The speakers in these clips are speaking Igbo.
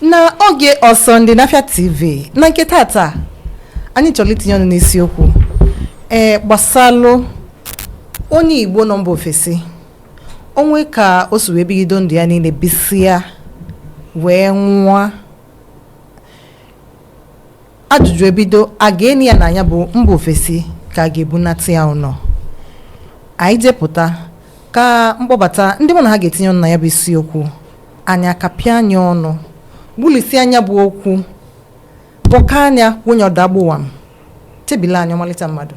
na oge ọsọndị na afia tv na nke tata anyị chọrọ itinye ọnụ n'isiokwu ee gbasalụ onye igbo nọ mba ofesi o nwe ka o si wee bigido ndụ ya niile bisịa wee nwụọ ajụjụ ebido a ga-eni ya na ya bụ mba ofesi ka a ga-ebunata ya ụnọ anyị jepụta ka m kpọbata ndị mụ na ha ga-etinye ọnụ na nya bụ isiokwu anyị akapịa nya ọnụ gbulisie nya bụ okwu bọkaa nya kwụnye ọdagbụwa m chebili anya ọmalịcha mmadụ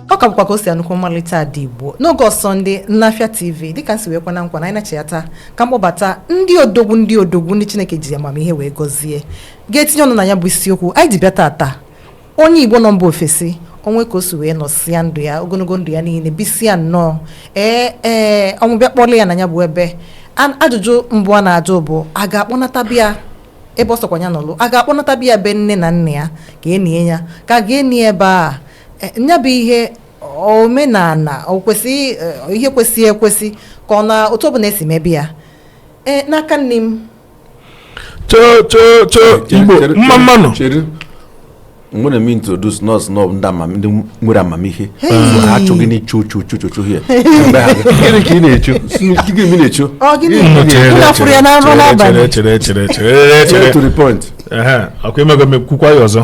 ọ ka bụkwa kosi anụkwu ọmalịcha ada igbo n'oge ọsọndị na afia tv dịka m si wee kwe unu nkwa na anyị nachiyata ka m kpọbata ndị odogwu ndị odogwu ndị chineke ji amamihe wee gọzie ga-etinye ọnụ na ya bụ isiokwu anyị ji bịa tata onye igbo nọ mba ofesi o nwe ka o si wee nọsịa ndụ ya ogologo ndụ ya niile bisịa nnọọ ee ee ọnwụ bịa kpọrọ ya na ya bụ ebe An- ajụjụ mbụ a na-ajụ bụ a ga-akpọnata bịa ebe ọ sọkwa ya nọlụ a ga-akpọnata bịa be nne na nna ya ka e nie ya ka a ga-eni ebe a e, nya bụ ihe omenala o kwesị e, ihe kwesị ekwesị ka ọ na otu ọbụla e si mebe ya e, n'aka nni m choo choo choo igbo mma mma nụ mgbe na-eme introduce nọọsụ nọọbụ ndị amam ndị nwere amamihe ha achọghị na ichu uchu uchu uchu ihe gịnị ka ị na-echu gịnị ị na-echu ọkụ imego mekwukwa ya ọzọ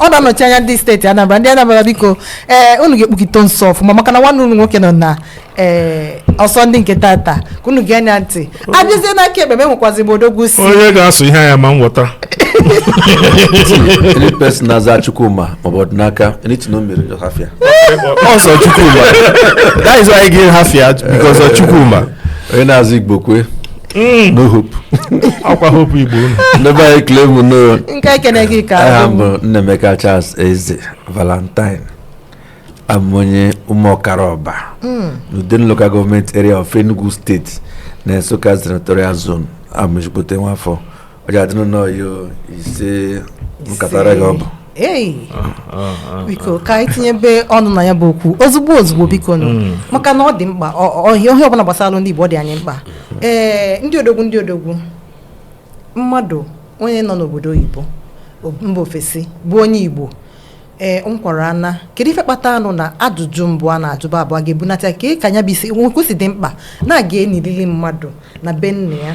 ọ na-anọchi anya ndị steeti Anambra ndị Anambra biko ee eh, unu ga-ekpukite nso ọfụma maka na nwanne unu nwoke nọ na ee eh, ọsọndị nke tata ka unu gee nya ntị a bịazie n'aka ekpe m enwekwazi m odogwu si onye ga-asụ ihe anya ma m ghọta any person na-aza chukwuma maọbụ ọdịnaka anything o mere just have fear ọsọ chukwuma that is why i dey have fear because of chukwuma onye na-aza igbokwe no hope ọkwa hope igbo unu ndị be anyị ekele m unu nke ekene gị ka aha m bụ nnaemeka charles eze valentine abụ m onye ụmụọkara orba n'udenu local government area of enugu state na nsukka senatorial zone abụ m ezigbote nwafọ ọja adịnụ nnọọ yo ise nkatara gị ọ bụ ei biko ka anyị tinyebe ọnụ na ya bụ okwu ozugbo ozugbo biko nụ maka na ọ dị mkpa ọ- ọ- ihe ọbụla gbasalụ ndị igbo ọ dị anyị mkpa ee ndị odogwu ndị odogwu mmadụ onye nọ n'obodo oyibo o- mba ofesi bụ onye igbo ee m kwara ana kedu ife kpatanụ na ajụjụ mbụ a na-ajụba bụ a ga-ebunata ka ka nya bụ isiokwu si dị mkpa na a ga-enilili mmadụ na be nna ya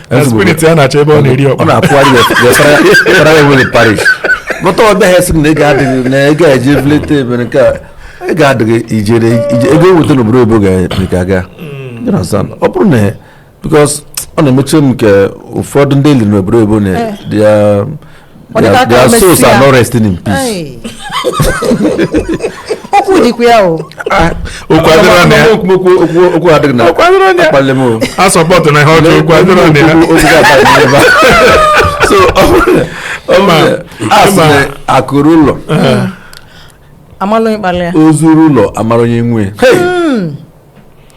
na spirit ya na-achọ ebe ọ na-eri ọkpa ọ na-akwụgharị wetara ya nwere parish bụta ọ bịaghị sị na ego adịghị na ego a ga-eji vulete ebere nke a ego adịghị ijere ego eweta n'obodo oyibo ga-aga ọ bụrụ na because ọ na-emetụ m nke ụfọdụ ndị eliri n'obodo oyibo na eh. their, their souls are not resting in peace. okwu dịkwa ya o okwu adịghị na akpali m a support na ihe ọjọọ okwu adịghị na ya so asị akụ ruo ụlọ ozu ruo ụlọ amara onye nwe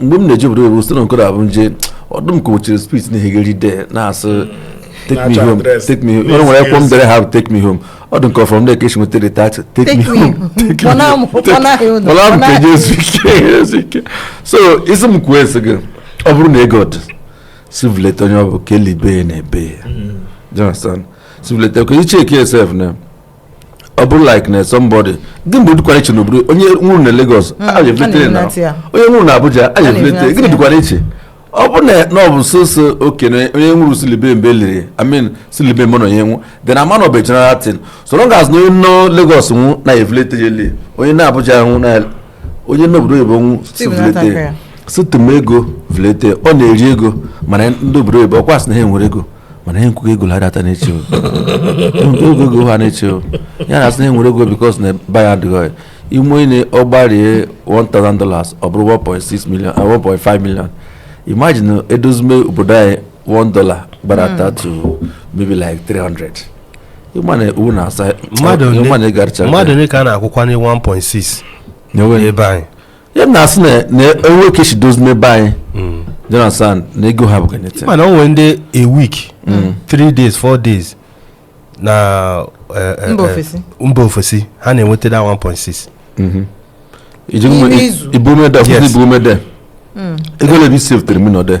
mgbe m na-eje obodo oyibo site na nkụda abụ nje ọdụm ka ochiri spirit na-ehegeri de na-asị take me home take me home nwere ekwo m dere ha take me home ọ dị nke from there ka esi nweta the title take me home mọla m ka eje ezu ike ezu ike so isi m kwuo esi gị ọ bụrụ na ego dị sị vuleta onye ọ bụ ka elibe ya na ebe ya mm. do you understand sị vuleta ka ị checkie sef na ọ bụrụ like na somebody gị mgbe dịkwara iche n'obodo onye nwụrụ na Lagos hmm, a ga-evulete na onye nwụrụ na Abuja a ga-evulete gịnị dịkwara iche ọ bụ na na ọ bụ sọsọ okenye onye nwụrụ sị libe mgbe eliri I mean sị libe mụ na onye nwụ dị na mana ọ bụ general thing so long as onye nọ Lagos nwụ na evulete je lie onye nọ Abuja nwụ na onye n'obodo oyibo nwụ sị vulete sị tụma ego vulete ọ na-eri ego mana ndị obodo oyibo ọkwa sị na ha nwere ego mana ihe m kwugo ego ha data na-eche ego ego ha na-eche ya na asị na enwere ego because na ba ya adịghị ime onye ọ gbarie 1000 dollars ọ bụrụ 1.6 million 1.5 million imagine edozime obodo anyị 1 dollar gbadata to maybe like 300 ị ma na ewu na asa mmadụ ole ka a na-akwụkwanye 1.6 n'ebe anyị ya m na-asị na na enwe ka esi dozime be anyị jonathan na ego ha bụ kenete mana o nwere ndị a week three days four days na eh, eh, Mba eh, ofesi. mba ofesi ha na-enweta that 1.6 N'ime izu. ibumede Yes. ọfụzi ibumede ego ole bụ ị savetere mi nọde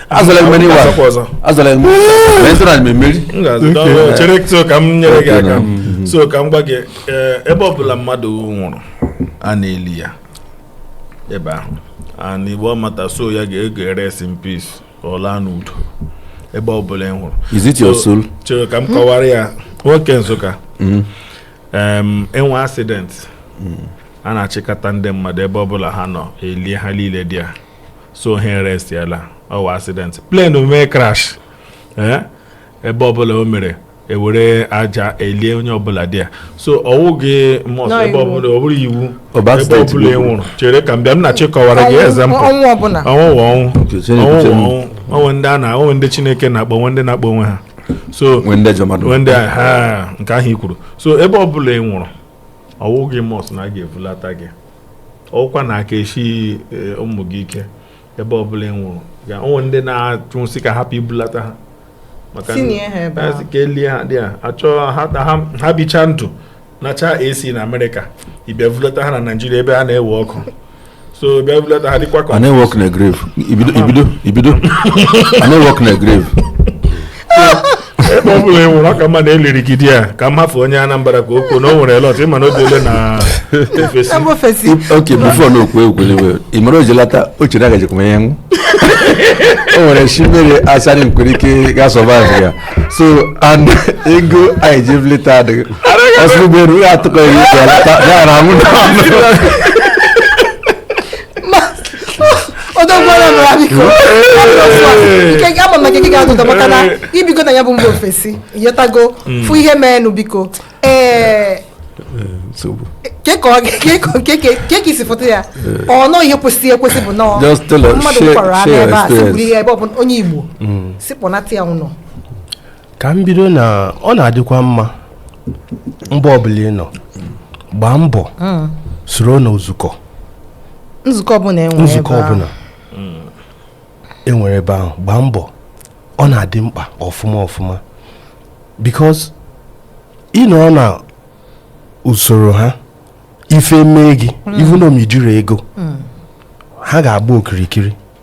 azọla eme n'iwa Azọkwa ọzọ. azọla eme mee ntụrụ anyị mmeri M ga-azụ dọọ- chere so ka m nyere gị aka Mm. so ka m gwa gị ee, ebe ọbụla mmadụ nwụrụ a na-eli ya ebe ahụ and igbo ọmata soul ya ga-eje rest in peace ka ọ laa n'udo ebe ọbụla ị nwụrụ is it your So, soul chere ka m kọwara ya nwoke Nsụka Mm. em, enwee accident a na-achịkọta ndị mmadụ ebe ọbụla ha nọ elie ha niile dị ya so ha erestiela ọ wụ accident plane mee crash ee ebe ọbụla o mere ewere aja elie onye ọbụla dị ya so ọ wụghị must ebe ọbụla ọ bụrụ iwu ebe ọbụla ị nwụrụ chere ka m bịa m na chịkọwara gị example ọnwụ ọbụla ọnwụ wụ ọnwụ Uche, Chineke, ọnwụ wụ Chineke. ọnwụ onwe ndị a na o nwe ndị Chineke na-akpọ o nwe ndị na-akpọ onwe ha so nwee ndị ajọ mmadụ onwe ndị a ha nke ahụ i kwuru so ebe ọbụla ị nwụrụ ọ wụghị must na a ga-evulata gị ọ wụkwa na aka eshi ụmụ gị ike ebe ọbụla ị nwụrụ ga o nwere ndị na-achọ sị ka hapụ ibulata ha maka Tinye ha ebe ahụ. ka elie ha dị a achọ ha na ha ha bicha ndụ nacha AC na Amerịka ịbịa vulata ha na Naịjirịa ebe a na-ewe ọkụ so bịa vulata ha dịkwa ka ibido work na grave. Ibido work na grave. ebe ọ bụla ị nwụrụ ọ ka mma na eliri gị there ka m hafụ onye Anambra ka o kwuo na o nwere lot ịma na o biele na ofesi Ebe ofesi. okay before na okwu ekwele wee ị mara o ji lata o chere agajikwa ya nwụ o nwere shi mmiri asarị nkwere ike ga survive ya so and ego anyị ji evulata adịghị ọsọ ụgbọelu ya atụkọ ya ike ya lata ya na anwụ na anụ odogwara nụra biko ike gị ama maka ike ga adụdọ maka na ibigo na ya bụ mba ofesi yọtago mm. fụ ihe meenụ biko ee eh, ke ka i si fụta ya ọ nọ ihe kwesịrị ekwesị bụ na mmadụ kwara anụ ebe a sigburu ihe ebe ọ bụ onye Igbo mm. si kpọnata ya ụnọ ka m bido na ọ na-adịkwa mma mba ọbụla ị nọ gbaa mbọ mm. soro na nzukọ nzukọ ọbụla enwere ebe ahụ gbaa mbọ ọ na-adị mkpa ọfụma ọfụma because ịnọ na usoro ha ife mee gị even ma ijirọ ego ha ga-agba okirikiri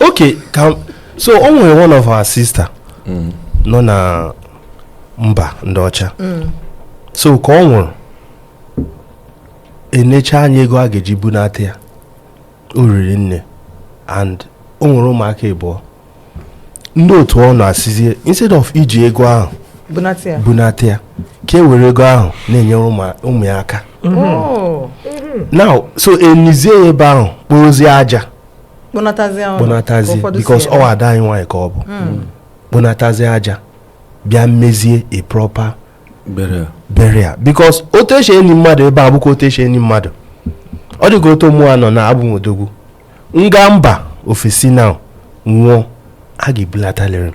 okay so o nwere one of our sister mm. nọ na mba ndị ọcha mm. so ka ọ nwụrụ enecha anya ego a ga-eji bunata ya o riri nne and o nwere ụmụaka ịbụọ ndị otu ọ nọ asịzie instead of iji ego ahụ bunata ya ka e were ego ahụ na-enyere ụmụ ya aka mm-hmm. oh. mm-hmm. now so enizie ya ebe ahụ kporozie aja kpọnatazie because ọ ada anyị nwaanyị ka ọ bụ hmm. kpọnatazie aja bịa mezie a proper burial because otu esi eni mmadụ ebe a bụkwa otu esi eni mmadụ ọ dịka otu mụwa nọ na abụ m odogwu m gaa mba ofesi na nwụọ a ga-ebulatalịrị m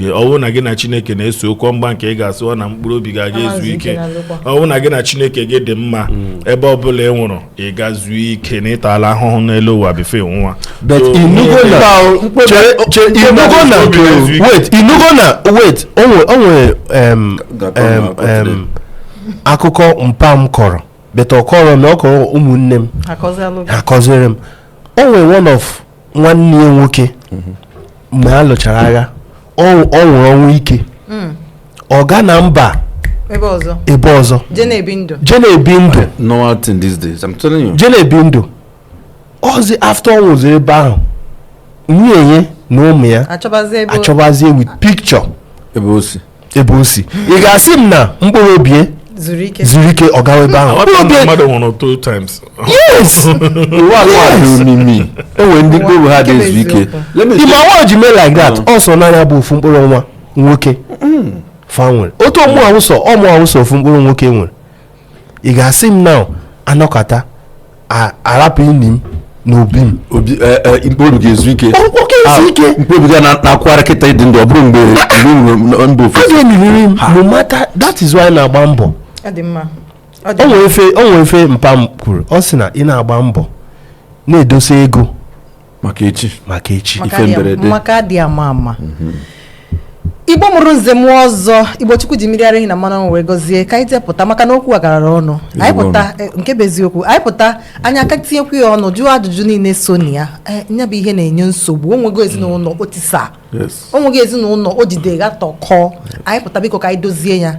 ọ wụ na gị na chineke na-ese okwu mgba nke ị ga-asị ọ na mkpụrụ obi ga-aga ezu ike ọ wụ na gị na chineke gị dị mma mm. ebe ọ bụla ị nwụrụ ị ga zuo ike na ị tala ahụhụ n'elu ụwa before ị nwụọ ị nụgo na wet o nwere akụkọ mpa m kọrọ but ọ kọrọ na ọ kọrọ ụmụnne m a kọziri m o nwere one of nwanne ya nwoke mgbe a lụchara agha ọ ọ nwụrụ ọnwụ ike ọ ga na mba ebe ọzọ ebe ọzọ je na-ebi ndụ je na-ebi ndụ normal thing these days i'm telling you je na-ebi ndụ ọzi after ọ nwụziri ebe ahụ nwunye ya na ụmụ ya achọbazi ebe achọbazie with picture ebe o si ebe o si ị ga-asị m na mkpụrụ obi ya zuru ike zuru ike ọ gawa ebe ahụ mkpụrụ obi e- mmadụ nwụrụ two times yes ụwa a dị omimi o nwere ndị mkpụrụ obi ha adị ezu ike Let me ị ma why o ji mee like that ọ sọ na nya bụ ofu mkpụrụ nwa nwoke fa nwere otu ọ mụa wụ sọ ọ mụa wụ sọ ofu mkpụrụ nwoke nwere ị ga-asị m na anọkata arapụ ini m na obi m obi eh, eh, mkpụrụ ga-ezu ike ah, mkpụrụ ga na-akwara kịta ị dị ndụ ọ bụrụ mgbe mba ofesi a ga-eniriri m no matter that is why na-agba mbọ o nwere ife mpa m kwuru ọ sị na ị na-agba mbọ na-edosa ego maka echi maka echi ife mberede maka adị ama ama mhm. igbo mụrụ nze mụọ ọzọ igbo chukwu ji mmiri ara ehi na mmanụ wee gọzie ka anyị tepụta maka na okwu a garara ọnụ anyị pụta e, nke bụ eziokwu anyị pụta anyị aka tinyekwu ya ọnụ jụọ ajụjụ niile so na ya e, nya bụ ihe na-enye nsogbu o nwego ezinụlọ o tisa o nwego ezinụlọ o jide ghatọkọ anyị pụta biko ka anyị dozie ya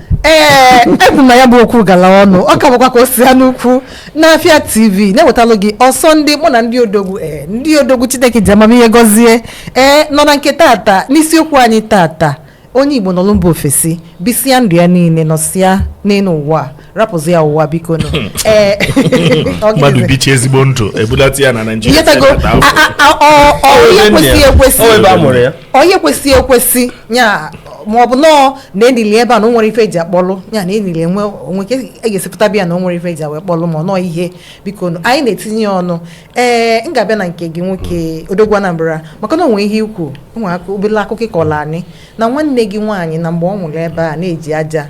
ee ebu na ya bụ okwu gala ọnụ ọ ka bụkwa ka o si ha n'ukwu n'afịa tv na-ewetalụ gị ọsọ ndị mụ na ndị odogwu ee ndị odogwu chineke ji amamihe gọzie ee nọ na nke tata n'isiokwu anyị tata onye igbo nọlụ mba ofesi bisịa ndụ ya niile nọsịa n'elu ụwa rapụzia ụwa biko nụ ee ọ mmadụ gịnịzi? bichaa ezigbo ndụ ebulata ya na naijiria inyetago a- a- a- ọ- ọ onye kwesịghị ekwesị onye kwesịghị ekwesị ya ma ọ bụ nọọ na enili ebe a na o nwere ife eji akpọlụ ya na enili enwe o nwe ka e ga-esi pụta bịa na o nwere ife eji wee kpọlụ ma ọ nọọ ihe biko nụ anyị na-etinye ya ọnụ ee m ga-abịa na nke gị nwoke odogwu anambra maka na o nwe ihe i kwu o nwe obele akụkọ ị kọlụ anyị na nwanne gị nwaanyị na mgbe ọ nwụrụ ebe a na-eji aja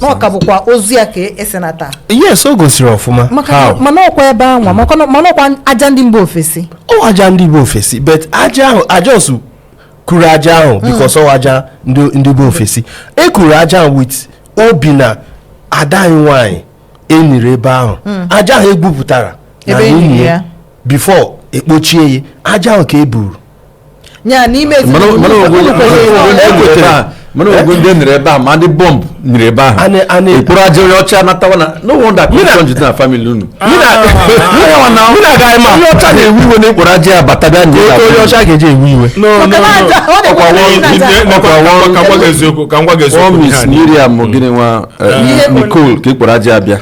na ọ ka bụkwa ozu ya ka e senata yes o gosiri ọfụma How? mana ọkwa ebe anwa maka na- mana ọkwa aja ndị mba ofesi ọ aja ndị bi ofesi but aja ahụ aja osu kuru aja ahụ because ọ aja ndị ndị bi ofesi e kuru aja ahụ with obi na ada anyị nwaanyị e niri ebe ahụ aja ahụ e gwupụtara na ini ya before ekpochie ya aja ahụ ka e buru mana ọgwụ ndị e nere ebe a ma ndị bọmbụ nere ebe ahụ e kporo aja onye ọcha natawa na no wonder kọnjụ dị na family unu ah. onye ọcha na-ewe iwe na e kporo aja ya bata bịa nye ya onye ọcha ga-eji ewe iwe ọkwa ọ Miss Miriam gịnị nwa eh, eh. Nicole ka e kporo aja ya bịa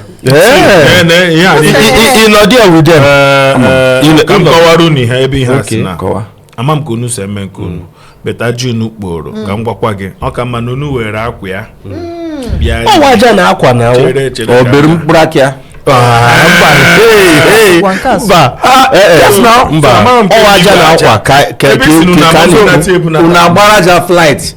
ịnọdị ya wide ka m kọwara unu ihe ebe ihe a si na ama m ka unu si eme nke unu but aja unu kporo ka m gwakwa gị ọ ka mma na unu were akwa ya ọ wụ aja na akwa na obere mkpụrụ aka ya mba ọ wụ aja na akwa ka unu agbara aja flight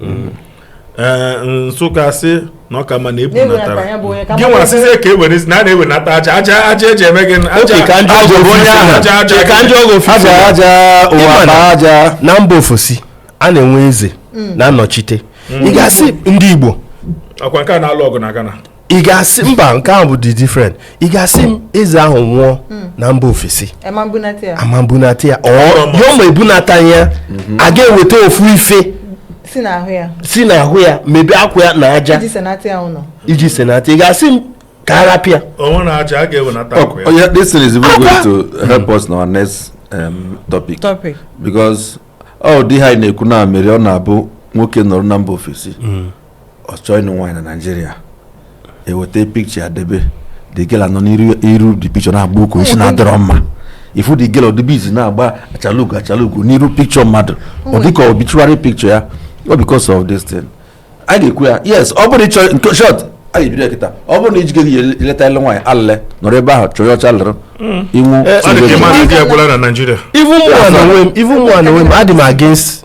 mm. eh, Nsụka sị na ọ ka mma na e bunatara gị nwa a sịzie ka e were na a na-ewenata aja aja aja eji eme gị aja na mba ofesi a na-enwe eze mm. na-anọchite mm. ị ga-asị ndị Igbo ọkwa nke a na-alụ ọgụ na Ghana ị ga-asị mba nke ahụ bụdị different ị ga-asị m eze ahụ nwụọ na mba ofesi a ma ebunata ya a ma ebunata ya ọ ya ma ebunata ya a ga-eweta ofu ife si n'ahụ ya si n'ahụ ya maybe akwa ya na aja iji senata ya ụlọ iji senata ị ga-asị m ka a rapịa onwe na aja a ga-ewenata akwa ya Oh, yeah, this thing is even going to help us in our next um, topic. topic Because ọ dị ihe a anyị na-ekwu na mere ọ na-abụ nwoke nọrọ na mba ofesi ọ chọọ ịnụ nwaanyị na Naịjirịa e weta picture ya debe the girl anọ n'iru the picture na-agba nkwụ ị sị na ọ dịrọ mma ị fụ the girl ọdịbe izi na-agba achalugo achalugo n'iru picture mmadụ ọ dịka obituary picture ya all because of this thing a ga-ekwu ya yes ọ bụrụ ị chọọ in short a ga-ebido ya kịta ọ bụrụ na ijike gị eleta ele nwaanyị alele nọrọ ebe ahụ chọrọ ọcha lụrụ inwu Ọ dị ka ị ma na di agwụla na Naịjirịa. even mụ na onwe m even mụ na onwe m adị m against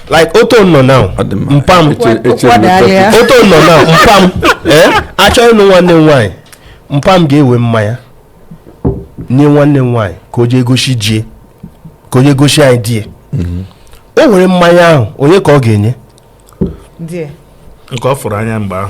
like otu m nọ now Ọ dị mma. mpa m Eche- eche Ụkwụ adịghị m ya. otu m nọ now mpa m ee a chọọ ịnụ nwanne m nwaanyị mpa m ga-ewe mmanya nye nwanne m nwaanyị ka o jee gosi di e ka o jee gosi anyị di e o were mmanya ahụ onye ka ọ ga-enye Dear. nke ọ fụrụ anya mgbe ahụ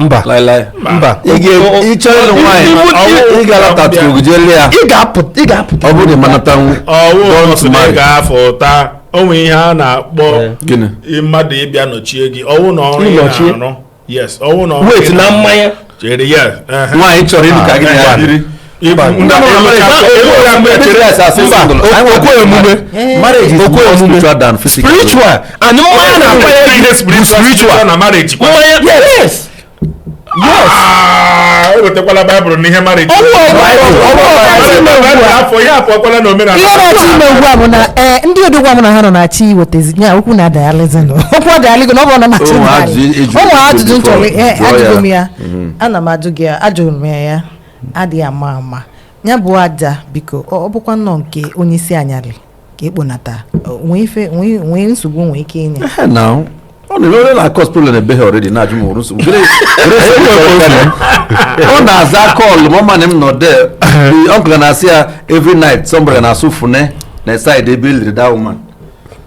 mba mba ị ga-apụta ọ bụrụ na ị ma anatanwu ga-afụta o nwe ihe a na-akpọ mmadụ ịbịa nọchie gị ọ wụ na ọrụ ị na-arụ yes ọ wụ na ọrụ ị na-arụ wait na mmanya nwaanyị chọrọ ịlụ ka gị na ya spiritual and mmanya na-akwanyere ihe spiritual na marriage yes ewetekwala baịbụl n'ihe marriage ihe na-achọ ime ugbu a bụ na ee ndị odogwu mụ na ha nọ na-achọ iwetezi ya okwu na adayalizin okwu adayaligo na ọ bụ na machị ụmụ ajụjụ m chọrọ ajụgo m ya ana m ajụ gị ya ajụrụ m ya ya adịghị ama ama ya bụ aja biko ọ ọ bụkwa nnọọ nke onye isi anyarị ka ekponata O nwee ife nwee nwee nsogbu nwee ike inye Ehe, now. ọ na-eme onye na-cause problem ebe ha already na-ajụ m o nwere nsogbu Gịnị- gịnị nsogbu chọrọ ịbịa na? ọ na-aza call ma ọ ma na m nọ de uncle na-asị ya every night somebody na-asụ fune na side ebe e liri that woman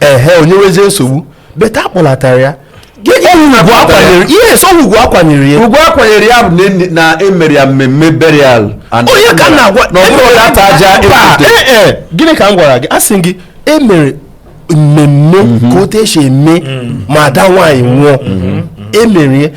ehe o nyewezie nsogbu but akpọlatara ya yes ọ ugwu akwanyere ya ugwu akwanyere ya bụ na emere ya mmemme burial onye ka na-agwa na ọ bụrụ data aja gịnị ka m gwara gị asị gị emere mmemme ka otu esi eme ma ada nwaanyị nwụọ emere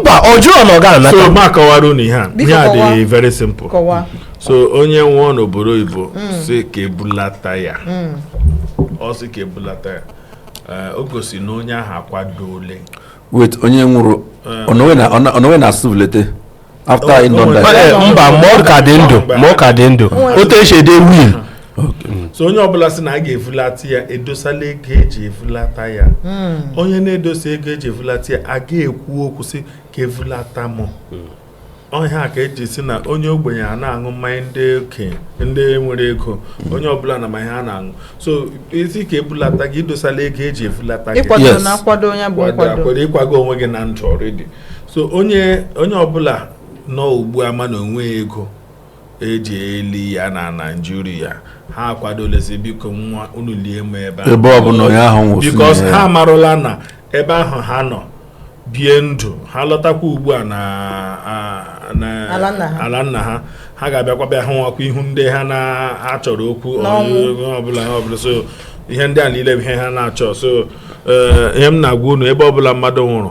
mba ọ jụrụ na ọ ga-anata so ma kọwara unu ihe a ihe a dị very simple so onye nwụọ n'obodo oyibo mm. sị ka ebulata ya mm. ọ sị ka ebulata ya eh, o gosi na onye ahụ akwadoole wait onye nwụrụ eh. ọ nọ wee na-asị vulete after anyị nọ na Ee, mba ma ọ ka dị ndụ ma ọ ka dị ndụ otu esi ede will so onye ọbụla sị na a ga-evulata ya edosala ego eji evulata ya onye na-edosa ego eji evulata ya a ga-ekwu okwu sị ka evulata m ọ ihe a ka eji sị na onye ogbenye anaghị aṅụ mmanya ndị okenye ndị nwere ego onye ọbụla na mmanya ha na-aṅụ so ị sị ka ebulata gị idosala ego eji evulata gị ịkwado Yes. na akwado onye bụ Kwado nkwado akwado ịkwago onwe gị na ndụ already so onye onye ọbụla nọ ugbu a ma na o nwe ego eji eli ya na naijiria ha akwadolezi bikonụ unu lie m ebe a ebe ọbụla onye ahụ nwụsịrị because ha amarụla na ebe ahụ ha nọ bie ndụ ha lọtakwa ugbu a na ala nna ha ha ga-abịakwa bịa hụwakwa ihu ndị ha na-achọrọ okwu ọbụla ọbụla so ihe ndị a niile bụ ihe ha na-achọ so eh, ihe m na-agwa unu ebe ọbụla mmadụ nwụrụ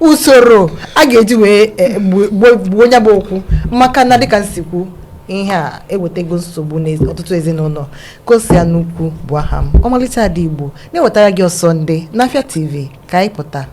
usoro a ga-eji wee eh, gbu- gbuo gbuo ya bụ okwu maka na dịka m si kwu ihe a ewetago nsogbu n'ọtụtụ ezinụlọ Kosi Anukwu bụ aha m ọmalịcha ada igbo na-ewetara gị ọsọndị n'afịa tv ka anyị pụta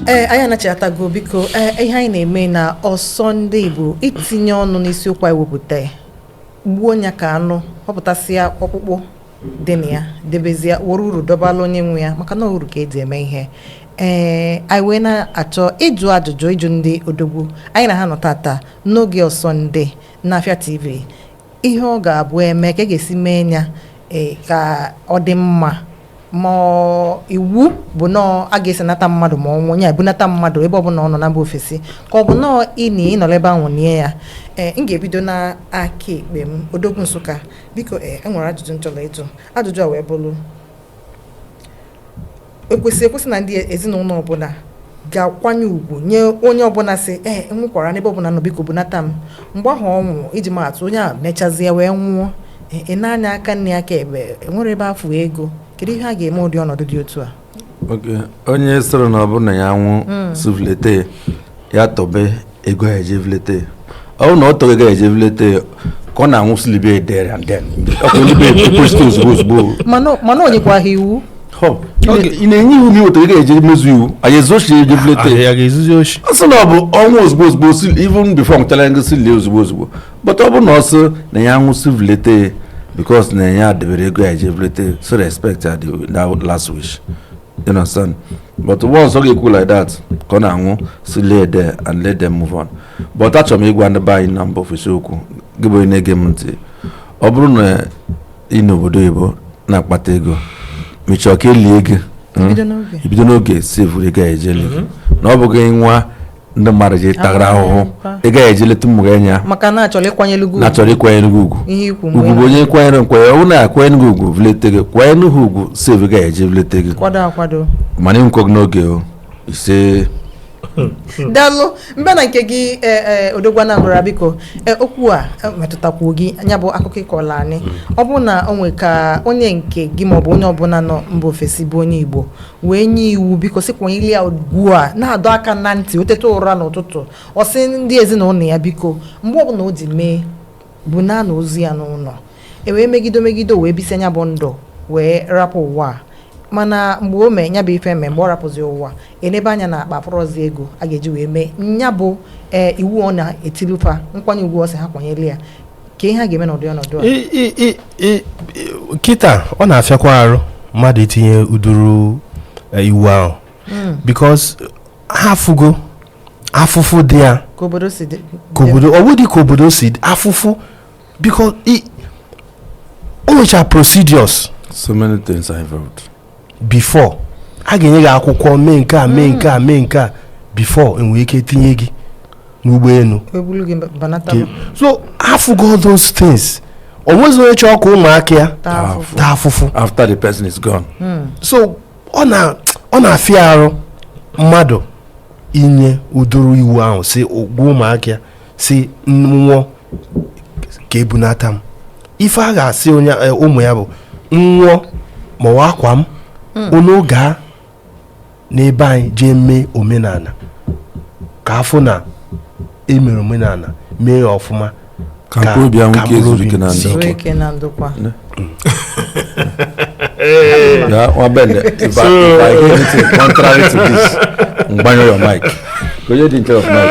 ee anyị anachatago biko ee ihe anyị na-eme na Osondi bụ itinye ọnụ n'isiokwu anyị wepụta gbuo nya ka anụ họpụtasịa ọkpụkpụ dị na ya debezie were uru dọbala onye nwe ya maka na uru ka eji eme ihe ee anyị wee na-achọ ịjụ ajụjụ ịjụ ndị odogwu anyị na ha nọ tata n'oge Osondi N'Afịa TV, ihe ọ ga-abụ eme ka a ga-esi mee ya e, ka ọ dị mma ma iwu bụ nọọ a ga-esenata mmadụ ma ọ nwụọ ebunata mmadụ ebe ọbụla ọ nọ na mba ofesi ka ọ bụ nọọ ịnị ịnọrọ ebe ahụ nie ya ee m ga-ebido na aka ekpe m odogwu Nsụka biko ee enwere ajụjụ m chọrọ ịjụ ajụjụ a wee bụrụ ekwesị ekwesị na ndị ezinụlọ ọbụla ga-akwanye ugwu nye onye ọbụla sị ee eh, enwekwara n'ebe ọbụla m nọ biko bunata m mgbe ahụ ọ nwụrụ iji maatụ onye a mechazie wee nwụọ ị eh, eh, nee anya aka nni aka ekpe enwerọ ebe afụ ego kedu ihe a ga-eme ụdị ọnọdụ dị otu a onye sịrị na ọ bụrụ na ya nwụ hmm. sị vulete ya tobe ego a ga-eji vulete ọ bụrụ na ọ tọghị ego a ga-eji vulete ka ọ na-anwụ sị libe there and then ọkụ ndị be ekwesịta ozugbo ozugbo mana mana o nyekwa ha iwu Họ, ị na- ị na-enye iwu ma i weta ego a ga-eji mezu iwu anyị ezu oshi eje vulete anyị ga-ezuzi oshi ọ sị na ọ bụ ọnwụ ozugbo ozugbo si even before nwụchara ngo si lie ozugbo ozugbo but ọ bụrụ na ọ sị na ya nwụ sị vulete because na ya debere ego a ga-eji vulete so respect ya the that last wish you understand but once ọ ga-ekwu like that ka ọ na-anwụ sị lie there and let them move on but achọrọ m ịgwa ndị be anyị na mba ofesi okwu gị bụ onye na-ege m ntị ọ bụrụ na ị nọ obodo oyibo na-akpata ego ma chọọ ka elie gị bido n'oge save ego a ga-eji lie na ọ bụghị nwa ndị mmadụ ji tagara ahụhụ ego a ga-eji leta ụmụ gị anya maka na achọrọ ịkwanyere gị achọrọ ịkwanyere gị ugwu ugwu bụ onye kwanyere m kwanye ọ bụrụ na akwanyere gị ugwu vulete gị kwanyere ha ugwu save ego a ga-eji vulete gị kwado akwado mana ị nwụkọghị n'oge o ise daalụ m bịa na nke gị e, e, odogwu Anambra biko e, okwu a metụtakwuo gị nya bụ akụkọ ị kọọla anyị mm. ọ bụ na o nwe ka onye nke gị maọbụ onye ọbụla nọ mba ofesi bụ onye igbo wee nye iwu biko sị kwanyere ya ugwu a na-adọ aka na ntị o teta ụra n'ụtụtụ ọ sị ndị ezinụlọ ya biko mgbe ọbụla o ji mee bunaa ozu ya n'ụlọ e wee megide megide wee bisie nya bụ ndụ wee rapụ ụwa a. mana mgbe o mee nya bụ ife mee mgbe ọ rapụzi ụwa enebe anya na akpa afụrọzi ego a ga-eji wee mee nya bụ ee iwu ọ na-etilu fa nkwanye ugwu ọ sị ha kwanyere ya ka ihe a ga-eme n'ụdị ọnọdụ a I- i- i- i- i- kịta ọ na-afịakwa arụ mmadụ itinye ụdịrị eh, iwu ahụ because ha afụgo afụfụ dị ya ka obodo si dị ka obodo ọ bụdị ka obodo si dị, afụfụ because i- o nwecha procedures so many things are involved before a ga-enye gị akwụkwọ mee nke a mee nke a mee nke a before e nwere ike tinye gị n'ụgbọelu ebulu gị bunata m so afụgo those things o nwezi onye chọọ ka ụmụaka ya taa afụfụ taa afụfụ after the person is gone so ọ na ọ na-afịa arụ mmadụ inye ụdịrị iwu ahụ si gwa ụmụaka ya sị m nwụọ ka ebunata m ife a ga-asị onye e, ụmụ ya bụ nwụọ ma a na-akwa m unu gaa n'ebe anyị jee mee omenala ka a fụ na e mere omenala mee ya ọfụma Ka mkpụrụ obi ya nwee ka ike mkpụrụ obi zuru ike na sie ndụ. ike. Nwee ike na ndokwa hey. Yeah, well, Ben, if, so... I, if I hear anything contrary to this, m gbanyụọ your mic. Ka onye dị nke off mic.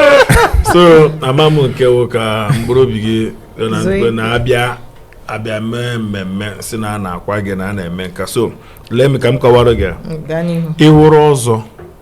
So, ama m nke wụ ka mkpụrụ obi gị na-abịa abịa mee mmemme sị na a na-akwa gị na a na-eme nke a so lee m ka m kọwara gị ị wụrụ ọzọ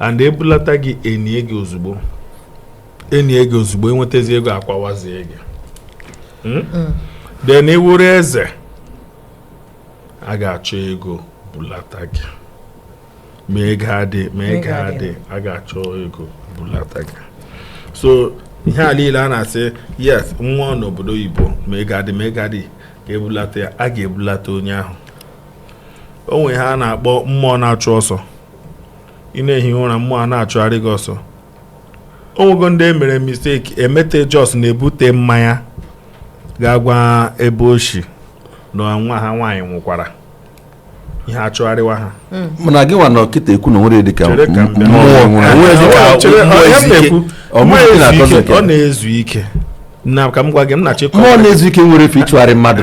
and ebulata gị enie gị ozugbo enie gị ozugbo enwetazi ego akwawazie gị Hmm? then ị wụrụ eze a ga-achọ ego bulata gị ma ego adị ma ego ego adị. adị a ga-achọ ego bulata gị so ihe a niile a na-asị yes nwa n'obodo oyibo ma ego adị ma ego adị a ga-ebulata ya a ga-ebulata onye ahụ o nwere ihe a na-akpọ mmụọ na-achụ ọsọ ị na-ehi ụra mmụọ a na-achụgharị gị ọsọ o nwego ndị emere mistake emete just na-ebute mmanya gaa gwa ebe o shi na nwa ha nwaanyị nwụkwara ihe achụgharịwa ha hmm. mana gị nwa nọ kịta ekwu na nwere dịka mmụọ ọ na-ezu ike na ka m gwa gị m na-achịkọ mmụọ na-ezu ike nwere efe ịchụgharị mmadụ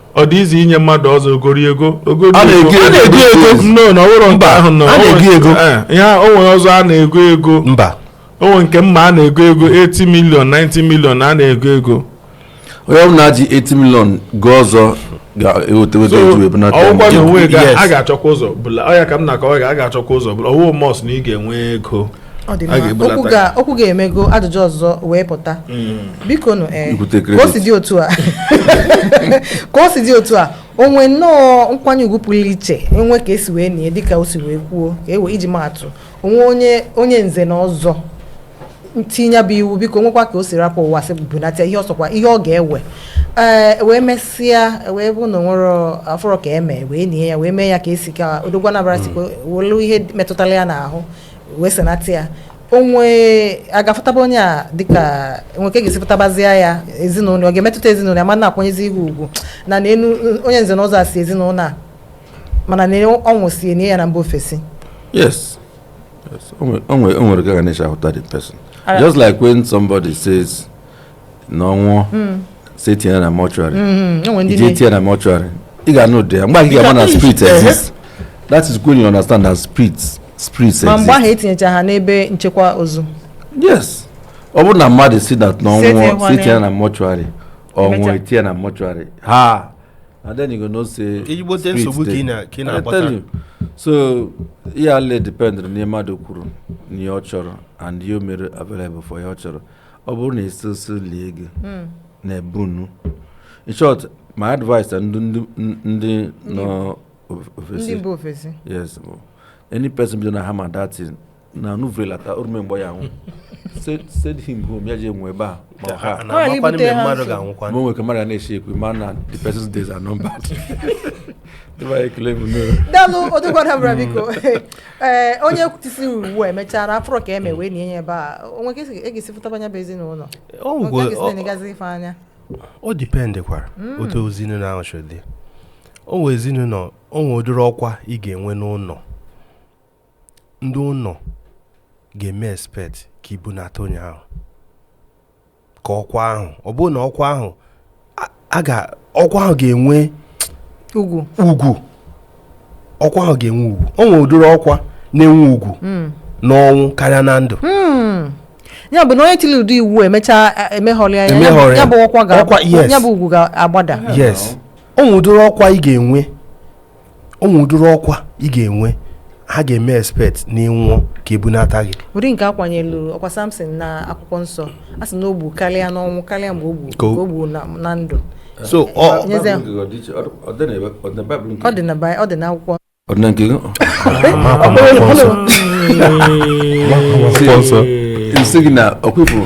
ọ dị easy inye mmadụ ọzọ o goro ego o goro A na-ego ego. A na-ego ego. No, na ọ bụrụ nke Mba, ahụ nọ. a na-ego O nwere- ego. Eh, ihe a- o nwere ọzọ a na-ego ego mba o nwere nke mma a na-ego ego 80 million 90 million a na-ego ego onye ọbụla ji 80 million goo ọzọ ga-eweta weta So, eji wee bunata ya. ọ wụkwa na o nweghị Yes. a ga-achọkwa ụzọ bula ọ ya ka m na-akọwa ga a ga-achọkwa ụzọ bula ọ wụ must na ị ga-enwe ego ọ dị A mma ga-ebulata okwu ga- okwu gị a emego ajụjụ ọzọ wee pụta biko nụ ee Ibute ka o credit. si dị otu a ka o si dị otu a o nwee nnọọ nkwanye ugwu pụrụ iche enwe ka esi wee nie dịka o si wee kwuo ka ewe iji maatụ onwe onye onye nze na ọzọ tinyebu iwu biko nwekwa ka o si rapụ ụwa sị bunata ya ọ sọkwa ihe ọ ga-ewe ee wee mesịa wee bụ na onwere afụrọ ka eme wee nie ya wee mee ya ka esi ka Odogwu Anambra si kwuo welu ihe metụtara ya n'ahụ wee zinata ya onwe a ga-afụtaba onye a dịka o nwe ka e ga-esi fụtabazia ya ezinụlọ ọ ga-emetụta ezinụlọ ya ma na-akwanyezi ihu ugwu na na enwe onye nze na ọzọ si ezinụlọ a mana na ọ nwụsịa e nie ya na mba ofesi Yes. Yes. Onwe- onwe- onwere ka a ga na-esi ahụta the person. Alright. Just like when somebody says na ọ nwụọ hmm. sị etinye ya na mortuary hmm, hmm, i je tinye ya na mortuary ị ga-anụ ụda ya mgbe ahụ ka ị ga-ama na spirit exist that is when you understand that spirit spirit exist ma mgbe ahụ etinyecha ha n'ebe nchekwa ozu yes ọ bụrụ na mmadụ sị that na ọ nwụọ sị etinye ya na mortuary ọ nwụọ etinye ya na mortuary ha and then you go know say ezigbote nsogbu ka ị na-akpata so ihe ale depend na ihe mmadụ kwuru na ihe ọ chọrọ and ihe o mere available for ihe ọ chọrọ ọ bụrụ na esi osi lie gị hmm. na ebe unu in short my advice and ndị nọ ofesi ndị ofesi yes any person bido na hammer that thing na nụ vuru ya lata o rume mgbe ya nwụ send him home ya je nwụọ ebe a ma ha ma o nwe ka mmadụ na-eshi ekwu ma na the person's days are numbered Ndị be anyị ekele m nụ. daalụ Odogwu Anambra biko ee onye tisi iwu a emechara afụrọ ka eme wee nie ya ebe a onwe ka esi- e ga-esi fụtaba nya bụ ezinụlọ O onwe ka nwekwa- esi ọ- na-enezi ife anya o dipendekwara otu ezinụlọ ahụ si dị o nwere ezinụlọ o nwere ụdịrị ọkwa ị ga-enwe n'ụlọ ndị ụlọ ga-eme expect ka ebunata onye ahụ ka ọkwa ahụ ọ bụrụ na ọkwa ahụ ọkwa ahụ ga-enwe ugwu ugwu ọkwa ahụ ga-enwe ugwu o nwere ụdịrị ọkwa na-enwe ugwu hmm. n'ọnwụ karịa na ndụ hmm. ya bụ na onye tiri ụdị iwu emechaa e, emeghọrị ya ya bụ ọkwa ga ya bụ ugwu ga-agbada yes o nwere ụdịrị ọkwa ị ga-enwe o nwe ụdịrị ọkwa ị ga-enwe ha ga-eme expect na ị nwụọ ka ebunata gị ụdị nke akwanyelu ọkwa Samson na akwụkwọ nsọ a sị na o gbu karịa n'ọnwụ karịa mgbe o gbu Ka o- ka o gbu na na ndụ so ọ Nyeze. ọ dị na Bi- ọ dị na akwụkwọ ọ dị na nke gị akwụkwọ nsọ m sị gị na ọkwa ị fụrụ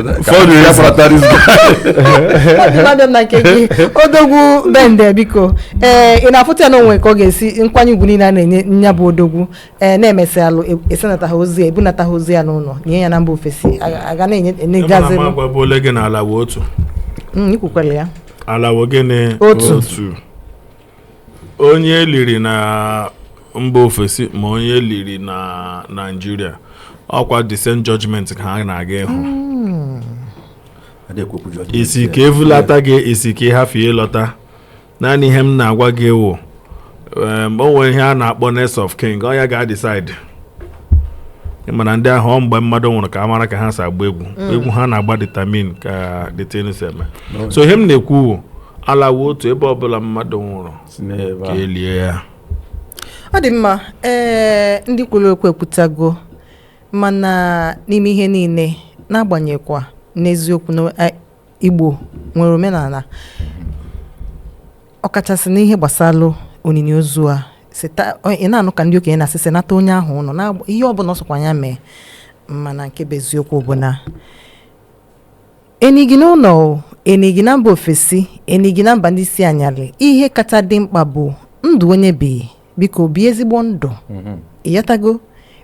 fọdụ ya fọrọta this guy Mmadụ na nke gị odogwu bende biko ee ị na-afụta ya na o nwe ka ọ ga-esi nkwanye ugwu niile a na-enye nya bụ odogwu ee na-emesị alụ e- esenata ha ozu ya ebunata ha ozu ya n'ụlọ nie ya na mba ofesi aga- aga na-enye Ebe na enyegazi ma agwa bụ ole gị na ala wụ otu ikwukwere ya ala wụ gịnị Otu. otu onye e liri na mba ofesi ma onye e liri na naijiria ọkwa the same judgment ka ha na-aga ịhụ ị sị ka e vulata gị ị sị ka ịhafụ ịlọta naanị ihe m na-agwa gị wụ o nwere ihe a na-akpọ next of kin ọ ya ga-decide ị ma na ndị ahụ ọ mgbe mmadụ nwụrụ ka a mara ka ha si agba egwu egwu ha na-agba determine ka the thing si eme so ihe m na-ekwu ala wụ otu ebe ọbụla mmadụ nwụrụ si n'ebe ka e lie ya ọ dị mma ee ndị kwuru okwu ekwutago mana n'ime ihe niile n'agbanyeghịkwa n'eziokwu na eh, igbo nwere omenala ọkachasị n'ihe gbasara onini ozu a sita ọ- ị na-anụ ka ndị okenye na-asị senata onye ahụ ụlọ na ihe ọbụla ọ sọkwa ya mee mana nke bụ eziokwu bụ na E nie gị n'ụlọ o, e nie gị na mba ofesi, e nie gị na mba ndị isi anyalị, ihe kacha dị mkpa bụ ndụ onye bi. Biko bie ezigbo ndụ. Mhm. Ịghọtago?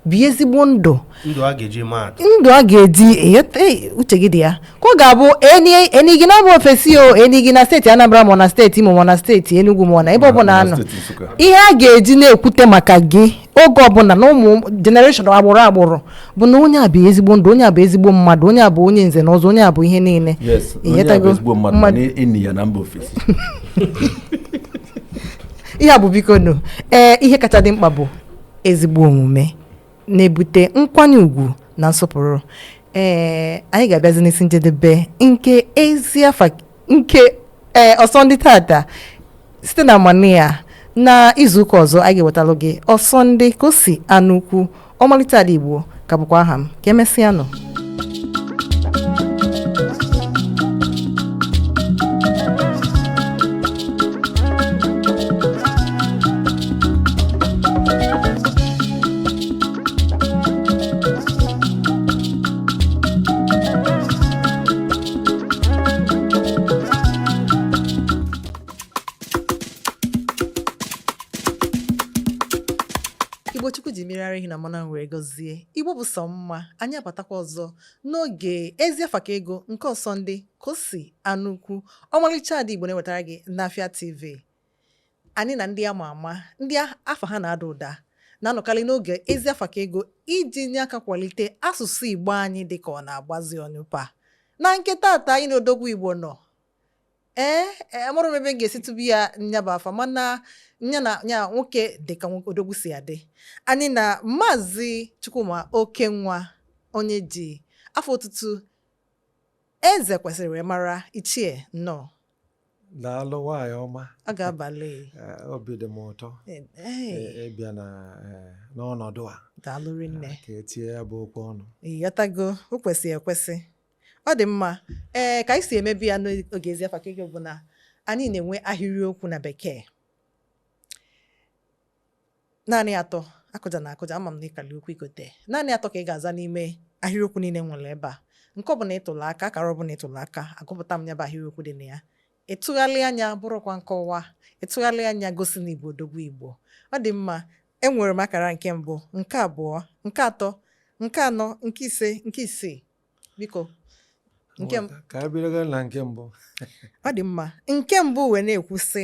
Bie ezigbo ndụ. Ndụ a ga-eji eme atụ. Ndụ a ga-eji ịghọta ee, uche gị dị ya. Ka ọ ga-abụ e ni e nie gị na mba ofesi o, e nie gị na steeti Anambra ma ọ na steeti Imo ma ọ na steeti Enugu ma ọ na ebe Ma- ọbụla ma a nọ. steeti Nsukka. Ihe a ga-eji na-ekwute maka gị oge ọbụla na ụmụ generation agbụrụ agbụrụ bụ na onye a bi ezigbo ndụ onye a bụ ezigbo mmadụ onye a bụ onye nze na ọzọ onye a bụ ihe niile yes onye a bụ Ịghọtago? ezigbo mmadụ Mmadụ- mana e nie ya na mba ofesi ihe a bụ bikonụ ee ihe kacha dị mkpa bụ ezigbo omume na-ebute nkwanye ugwu na nsọpụrụ ee anyị ga-abịazi n'isi njedebe nke ezi afa nke ee eh, ọsọndị tata site na amara ya na izuụka ọzọ anyị ga-ewetalụ gị ọsọndị kosi anụukwu ọmalịcha ada igbo ka bụkwa aha m ka emesịa nụ igbo chukwu ji mmiri ara ehi na mmanụ were gọzie igbo bụ sọ mma anyị abatakwa ọzọ n'oge ezi afa ka ego nke ọsọndị kosi anụukwu ọmalịcha ada igbo na-ewetara gị n'afịa tv Anyị na ndị a ma ama, ndị afa ha na-ada ụda, na-anọkarị n'oge Ezi Afa Ka Ego iji nye aka kwalite asụsụ Igbo anyị dị ka ọ na-agbazi ọnyụpa. Na nke tata anyị na odogwu Igbo nọ. Ee, e, amarọ m ebe m ga-esi tụbu ya nya bụ afa mana nya nwoke dị ka nwoke odogwu si adị. Anyị na Maazị Chukwuma Okenwa onye e ji afa otutu Ezekwesịrị wee mara ichie nnọọ. daalụ nwaanyị ọma ọ ga-abalị eh, obi dị m ụtọ eh, eh, ịbịa n'ọnọdụ a daalụ rinne ah, ka e tinye ya bụ okwu ọnụ ị ghọtago o kwesịrị ekwesị ọ dị mma ee ka anyị si emebu ya n'oge Ezi Afa Ka Ego bụ na anyị na-enwe ahịrịokwu na bekee naanị atọ akụjana akụja ama m na ị kalị okwu igote naanị atọ ka ị ga-aza n'ime ahịrịokwu niile m nwere ebe a nke ọbụla ị tụlụ aka akara ọbụla ị tụlụ aka agụpụta m ya bụ ahịrịokwu dị na ya ị tụgharịa nya bụrọkwa nkọwa ị tụgharịa nya gosi na ị bụ odogwu Igbo ọ dị mma enwere m akara nke mbụ nke abụọ nke atọ nke anọ nke ise nke isii biko ka e bido na nke mbụ ọ dị mma nke mbụ wee na-ekwu sị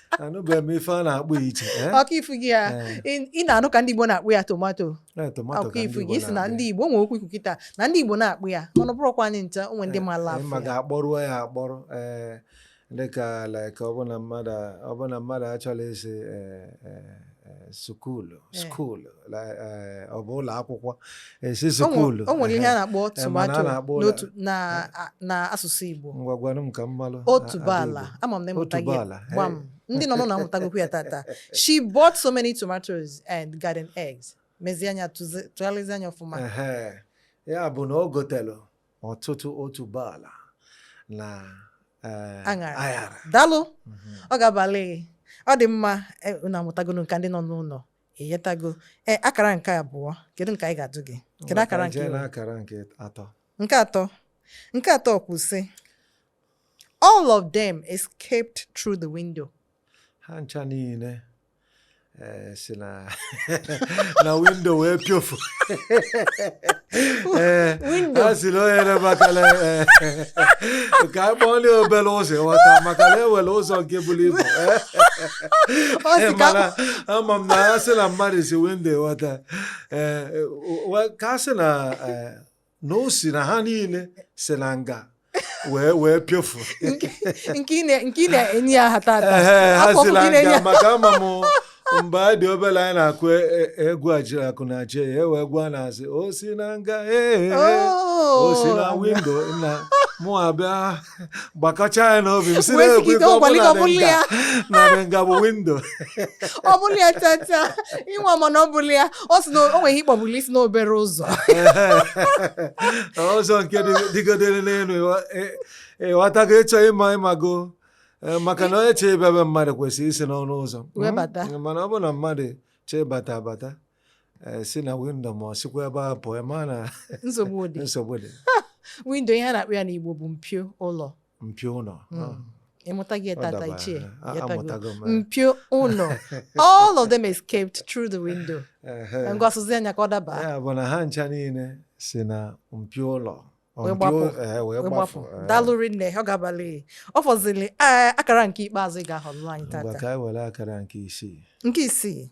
anụbeghị m ife a na-akpọ iche eh? ọkwa ị fụgo ya Eh, ị na-anụ ka ndị Igbo na-akpọ ya tomato eh, tomato ọkwa ị fụgo ị sị na ndị Igbo o nwere okwu i kwu kịta na ndị Igbo na-akpọ ya mana ọ bụrọkwa anyị ncha o nwere ndị mara Anyị afụ ma ya ga-akpọrụọ ya akpọrọ ee dịka like ọbụna mmadụ ọbụna mmadụ achọla ịsị ee ee Eh, sukulu Eh. sukulu la- eh, ọ bụ ụlọ akwụkwọ eh, si O nwe- sukulu o nwere ihe a na-akpọ tomato na asụsụ Igbo ngwa gwanụ m ka m malụ otuboala Adaigbo. ama m na ị mụtago Otuboala, eh. gbam ndị nọ n'ụnọ amụtagokwu ya tata she bought so many tomatoes and garden eggs mezie nya tụzi- tụgharịzie nya ọfụma Ehe. ya bụ na o gotelu ọtụtụ otuboala na eh, aṅara. daalụ Mhm. ọ ga-abalị gị ọ dị mma eh, unu amụtagonu nke ndị nọ n'ụnọ enwetago ee akara nke abụọ kedu nke anyị ga-ajụ gị kedu Maka akara nke jee iwe? n'akara nke atọ nke atọ nke atọ kwu sị all of them escaped through the window ha ncha niile Eh, si na windo wee piofu eh, a sị na onye na-emakala eh, ka a kpọọ ndị obere ụzọ ị ghọta maka na e nwere ụzọ nke buru ibu mana ama m na a sị na mmadụ si windo ị ghọta ka a sị na na o si na ha niile si na nga wee wee pịofu nke ị na- nke ị na-enye ya hata hata Ehe, ha si na nga. maka ama m mgbe anyị dị obere anyị na-akụ e- e- egwu ajiri akụ na je ya wee gwa na-asị o si na nga ee o si na Oh. windo na mụ abịa gbakọcha ya n'obi m si Wee na-ekwe sigide ka ọ ọgwali ka ọ bụrụ bụrụ na ya. nga na nga bụ windo ọ bụrọ ya chacha ị nwaa mana ọ bụrọ ya ọ sị na o nwere ike ọ bụrụ isi n'obere ụzọ ụzọ nke dị- dịgodere n'elu ịwa- ị- ịghọtago ịchọ ịma ịmago Eh, maka na onye chee ịbịa be mmadụ kwesịrị isi n'ọnụ ụzọ Wee bata. Mm, mana ọ bụ na mmadụ chee bata bata eh, si na windo ma o sikwa ebe a pụọ ma na nsogbu dị nsogbu dị windo ihe a na-akpọ ya n'Igbo bụ mpio ụlọ mpio ụlọ Mm. ah, ị mụtago tata dabara. ichie Ah, ya tago. amụtago m, eh. mpio ụlọ all of them escaped through the window Ehe. ngwa sụzia nya ka ọ daba ya bụ na ha ncha niile si na mpio ụlọ ọ Wee mpio- gbapụ. eh, wee wee gbapụ gbapụ eh. daalụ rinne ọ gabalị ọ fọzili eh, akara nke ikpeazụ ị ga-ahọrọ anyị Ngwa tata ka anyị were akara nke isii nke isii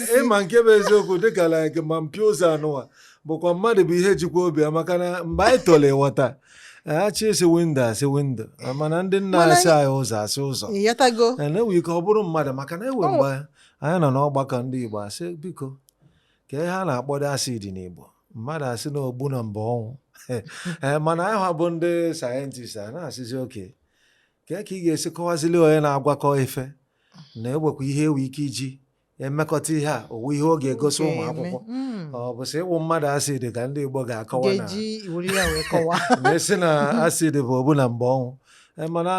ịma nke bụ eziokwu dịka like ma mpio ụzọ anụwa bụkwa mmadụ bụ ihe jikwa obi ya maka na mgbe anyị toro ịghọta asị asị windo asị windo mana ndị nna Mana asị anyị ụzọ asị ụzọ ịghọtago na enwe ike ọ bụrụ mmadụ maka na enwe mgbe anyị nọ n'ọgbakọ ndị Igbo asị biko ka ihe a na-akpọdo acid n'Igbo mmadụ asị na ogbu na mba ọnwụ Ee, mana anyị nwa bụ ndị sayentist a na-asịzi okay ka ka ị ga-esi kọwazili onye na-agwakọ ife na enwekwa ihe enwe ike iji emekọta ihe a owu ihe ọ ga-egosi ụmụ akwụkwọ mm. ọ bụ sị ịwụ mmadụ acid ka ndị Igbo ga-akọwa na-asị na acid bụ ogbu na mba ọnwụ e, mana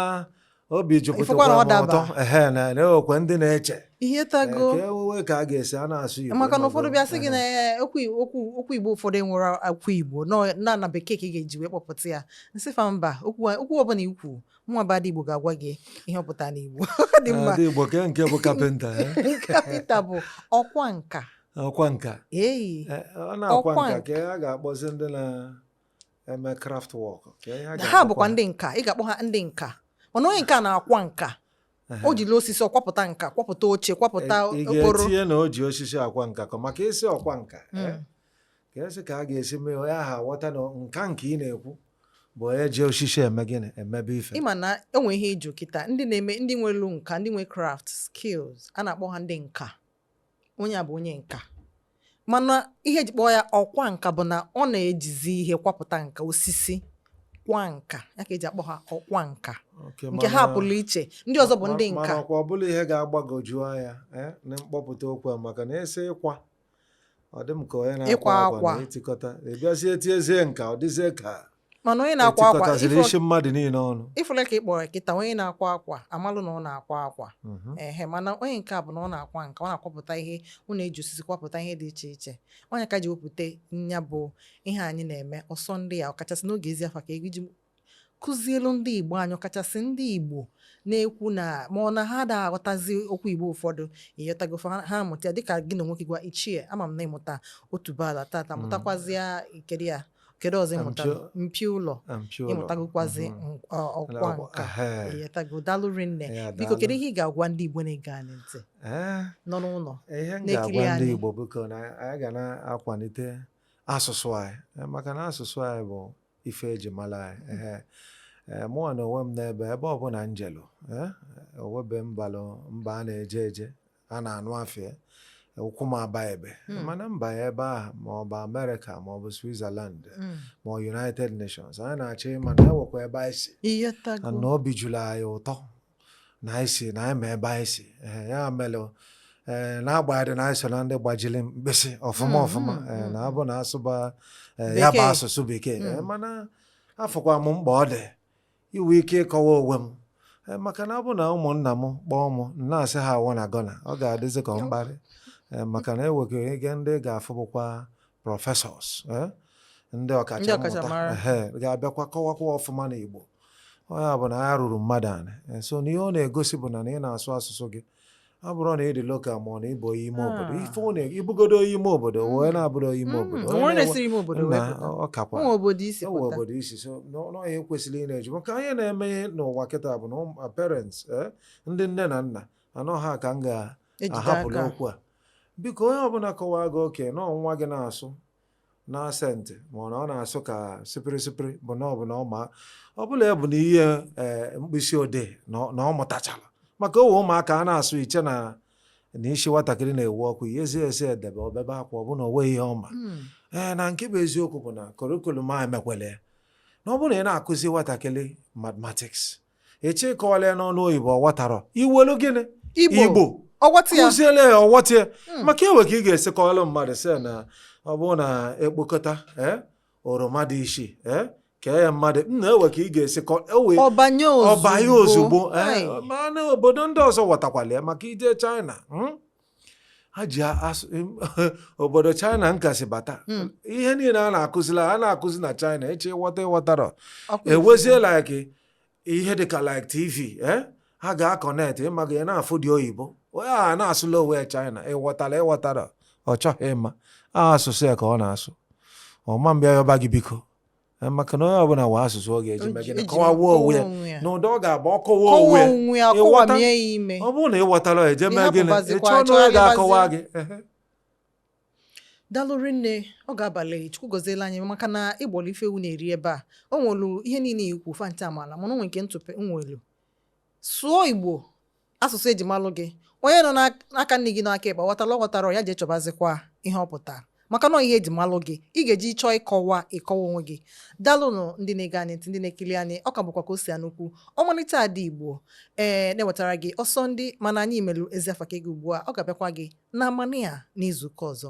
obi jupụtakwara m ụtọ ehe na enwekwa ndị na-eche ịghọtago e, ka ewuwe ka a ga-esi a na-asụ Igbo maka na ụfọdụ bịa sị gị na e, okwu Igbo ụfọdụ enwere okwu Igbo na na bekee ka ị ga-eji wee kpọpụta ya m sị fa mba okwu ọbụla ikwu nwa bụ Igbo ga-agwa gị ihe ọ pụtara n'Igbo dị mma Ada Igbo kee nke bụ kapịnta eh? kapịnta bụ ọkwa nka ọkwa nka eyi eh, ọ na-akwa nka ka a ga-akpọzi ndị na-eme craft work ha bụkwa ndị nka ị ga-akpọ ha ndị nka mana onye nke a na-akwa nka o jiri osisi ọ kwapụta nka kwapụta oche kwapụta okporo ị ga-etinye na o ji osisi akwa nka maka ị sị ọkwa nka eh? hmm. ka esi ka a ga-esi mee onye ahụ aghọta na nka nke ị na-ekwu bụ onye ji osisi eme gịnị emebe ife ịma na enwe ihe ị jụ kịta ndị na-eme ndị nwelu nka ndị nwe craft skills a na-akpọ ha ndị nka onye a bụ onye nka mana ihe eji kpọọ ya ọkwa nka bụ na ọ na-ejizi ihe kwapụta nka osisi kwa nka ya ka eji akpọ ha ọkwa nka Okay, nke ha mana- pụrụ iche ndị ọzọ bụ ndị ma- nka mana ọkwa ọ bụrụ ihe ga-agbagoju anya eh, na mkpọpụta okwu a maka na a sị ịkwa ọ dị m ka onye na-akwa Ịkwa akwa akwa. na itikọta a bịazie tinyezie nka ọ dịzie ka mana onye na-akwa akwa etikọtaziri ifo- isi mmadụ niile ọnụ ị fụla ka ị kpọrọ ya kịta onye na-akwa akwa amalụ na ọ na-akwa akwa Mhm. ehe mana onye nke a bụ na ọ na-akwa nka ọ na-akwapụta ihe ọ na-eji osisi kwapụta ihe dị iche iche ọ nya ka eji wepụta nya bụ ihe anyị na-eme ọsọ ndị a ọkachasị n'oge ezi afa ka iji Kuzielu ndị Igbo anyị, ọkachasị ndị Igbo na-ekwu na ma ọ na ha ada aghọtazi okwu Igbo ụfọdụ, ịghọtago fa, ha amụta ya dịka gị na onwe gị gwa Ichie, ama m na ịmụta otuboala tata, mụtakwazịa kedu ya kedu ọzọ ị mụtara Mpio- mpi ụlọ Mpio ụlọ. ịmụtagokwazi Mhm. m- ọ- ọkwa Ọkwa, nka ehe. ịghọtago daalụ rinne Ya, biko daalụ. kedu ihe ị ga-agwa ndị Igbo na-ege anyị ntị Eh, nọ n'ụlọ ihe m Na-ekiri ga-agwa ndị anyị. Igbo biko na anyị ga na-akwalite asụsụ anyị Eh, maka na asụsụ anyị bụ ife eji mara anyị ehe ee mụnwa na onwe m n'ebe ebe ọbụla njelu ee o webe mbalụ mba a na-eje eje a na-anụ afa ya ụkwụ m aba ebe Hmm. mana mba ya ebe ahụ ma ọ bụ America ma ọ bụ switzerland Mm. ma ọ united nations anyị na-achọ ịma na ewekwa ebe anyị si na Ịghọtago. na obi juru anyị ụtọ na anyị si na anyị ma ebe anyị si ee ya mere ee n'agbanyeghị na anyị so na ndị gbajiri mkpịsị ọfụma Mm, ọfụma mm, ee mm, na mm. ọ bụ na a sụba ee, ya bụ Bekee. asụsụ bekee Mm. ee, mana afụkwa m mkpa ọ dị iwe ike ịkọwa onwe m Ee, maka na ọ bụ na ụmụnna m kpọọ m m na-asị ha I wanna gonna ọ ga-adịzi ka ọ mkparị Ee, maka na enweghị ike ndị ga-afụ bụkwa professors eh, ndị ọkachamara ga-abịakwa kọwakwa ọfụma na Igbo onye ọbụna ya ruru mmadụ anị eh, so na ihe ọ na-egosi bụ na na ị na-asụ asụsụ gị abụrọ na ị dị local ma ọ na ị bụ onye ime ah. obodo ife ọ na ị bụgodu onye ime obodo hmm. wee na-abụrụ onye ime obodo ọkakwa obodo i si so na ọ ihe e kwesịrị ị na-eji maka ihe na-eme n'ụwa kịta bụ na parents eh, ndị nne na nna na ọ ha ka m ga-ahapụlụ okwu a biko onye ọbụla kọwaa gị okay na nwa gị na-asụ na accent ma ọ na ọ na-asụ ka sipiri sipiri bụ na ọ bụ na ọ ma ọ bụla ya bụ na ihe eh, mkpịsị odee na ọ- na ọ mụtachara maka o we ụmụaka a na-asụ i chee na na isi nwatakịrị na-ewu ọkụ i nyezie e sị e debe o bebe akwa ọ bụ na o nwe ihe ọ ma Mm. ee na nke bụ eziokwu bụ na curriculum emekwele ya na ọ bụrụ na ị na-akuzi nwatakịrị mathematics eche ị kọwalụ ya n'ọnụ oyibo ọ ghọtarọ i welu gịnị igbo kuziele ya ọ ghọta ya hmm. maka e nwe ka ị ga-esi kọwalụ mmadụ sị na ọ bụrụ na e kpokọta eh, oroma dị isii eh, kee ya mmadụ na e we ka ị ga-esi e ọ banye ozugbo eh, mana obodo ndị ọzọ ghọtakwala ya maka i je China hmm? ha ji asụ obodo china nkasi bata Hmm. ihe niile a na-akuzila a na-akuzi na china eche ị ghọta ị ghọtarọ Ọkwa ifufe. ewezie like ihe dịka like tv eh? ha ga-akọnet ịma gị na-afụ ndị oyibo onye a na-asụlụ onwe ya china ị ghọtara ị ghọtarọ ọ chọghị ịma a asụsụ ya ka ọ na-asụ ọ ma bịa yọba gị biko Eh, maka na onye ọbụla nwe asụsụ ọ ga-eji mee gịnị kọwawa onwe ya n'ụdị ọ ga-abụ ọ kọwaa onwe ya ọ bụrụ na ị ghọtara e jee mee gịnị ị chọọ na onye ga-akọwa gị daalụ rinne ọ ga-abalị Chukwu goziela anyị maka na i gbulu ife ewu na-eri ebe a o nwelu ihe niile i kwu fa ncha amala mana o nwe nke ntụpọ nwelu sụọ Igbo asụsụ e ji malụ gị onye nọ n'aka nni gị n'aka ekpe ghọtara ọ ghọtara ya jee chọbazikwa ihe ọ pụtara maka na ihe e ji malụ gị ị ga-eji chọọ ịkọwa ịkọwa onwe gị dalụnụ ndị na-ege anyị ntị ndị na-ekiri anyị ọ ka bụkwa Kosi Anukwu ọmalịcha ada Igbo ee na-ewetara gị ọsọ ndị mana anyị melu ezi afa ka gị ugbu a ọ ga-abịakwa gị n'amanị a n'izuụka ọzọ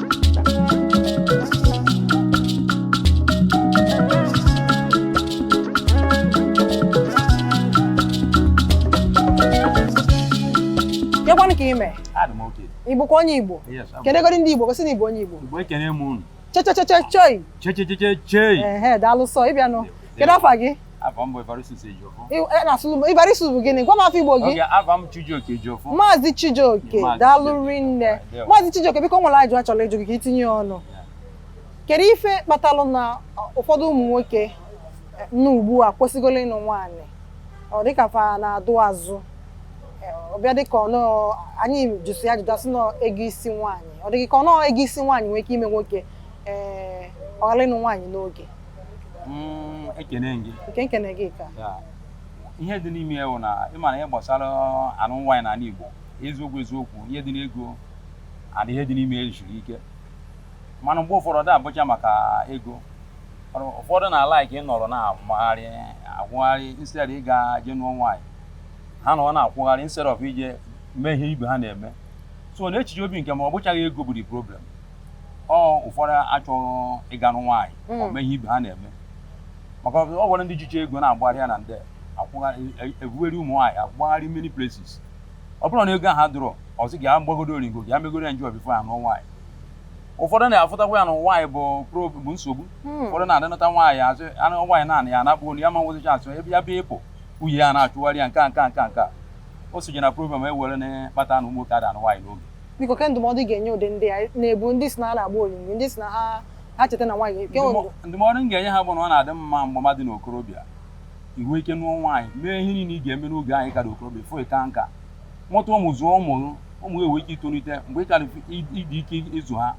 Kekwanụ ka i me. Adị m okay. Ị bụkwa onye Igbo? Yes, abụ m. Kenegodi ndị Igbo gosi na ị bụ onye Igbo. Igbo ekene m unu. Chechechechechoi. Chechecheche chei. Ehe, daalụ sọ ị bịa nnọọ. Kedu afa gị? Afa m bụ Evaristus Ejiofor. I- eh, na asụsụ- Evaristus bụ gịnị gwa m afa Igbo gị Okay afa m Chijioke Ejiofor. maazị chijioke Maazị daalụ Chijioke. rinne Ndewo. maazị chijioke biko o nwere ajụ a chọrọ ịjụ gị ka i tinye ọnụ kedu ife kpatalụ na ụfọdụ ụmụ nwoke eh, nọ ugbu a kwesịgoro ịnụ nwaanyị ọ dịka fa na-adụ azụ Eh, ọ bịa dịka ọ na anyị jụsịa jụdasịa na ọ ego isi nwaanyị ọ dịka ọ na ọ ego isi nwaanyị nwee ike ime nwoke ee ọ ghara ịnụ nwaanyị n'oge Mm, ekene gị nke nkene gị ka ihe dị n'ime ya bụ na ị ma na ihe gbasara anụ nwaanyị n'ala Igbo eziokwu eziokwu ihe dị n'ego and ihe dị n'ime ya siri ike mana mgbe ụfọdụ ada abụcha maka ego ụfọdụ na-alike ịnọrọ na-agbagharị akwụgharị instead ị ga-eje nụọ nwaanyị ha nọ na-akwụgharị instead of ije mee ihe ibe ha na-eme so n'echiche obi nke m ọ bụchaghị ego bụ the problem ọ ụfọdụ achọghị ịga nụ nwaanyị ọ mee ihe ibe ha na-eme maka ọ nwere ndị jicha ego na-agbagharị ya na nde ebugharị ụmụ nwaanyị agbagharị many places ọ bụrọ na ego ahụ adịrọ ọ sị ka m gbagodo oringo ka m megodo enjoy before ya nụọ nwaanyị ụfọdụ na-afụtakwa ya na nwaanyị bụ prob bụ nsogbu ụfọdụ na-adịnata nwaanyị azụ anụ nwaanyị naanị ya na-akpụ ya ma nwezicha asụ ebe ya bịa ịpụ nwunye ya na-achụgharị ya nke a nke a nke a nke a o soje na problem e were na-akpata na ụmụ nwoke ada anụ nwaanyị n'oge biko ke ndụmọdụ ị ga-enye ụdị ndị a na-ebu ndị sị na ha na-agba oringo ndị sị na ha ha cheta na nwaanyị ke nwere Ndụmọ- ndụmọdụ m ga-enye ha bụ na ọ na-adị mma mgbe mmadụ dị n'okorobịa i nwee ike nụọ nwaanyị mee ihe niile ị ga-eme n'oge anyị ka dị okorobịa before ị ka nka mụta ụmụ zụọ ụmụ gị, ụmụ gị enwee ike itolite mgbe ị ka dị ị- ịdị ike ịzụ ha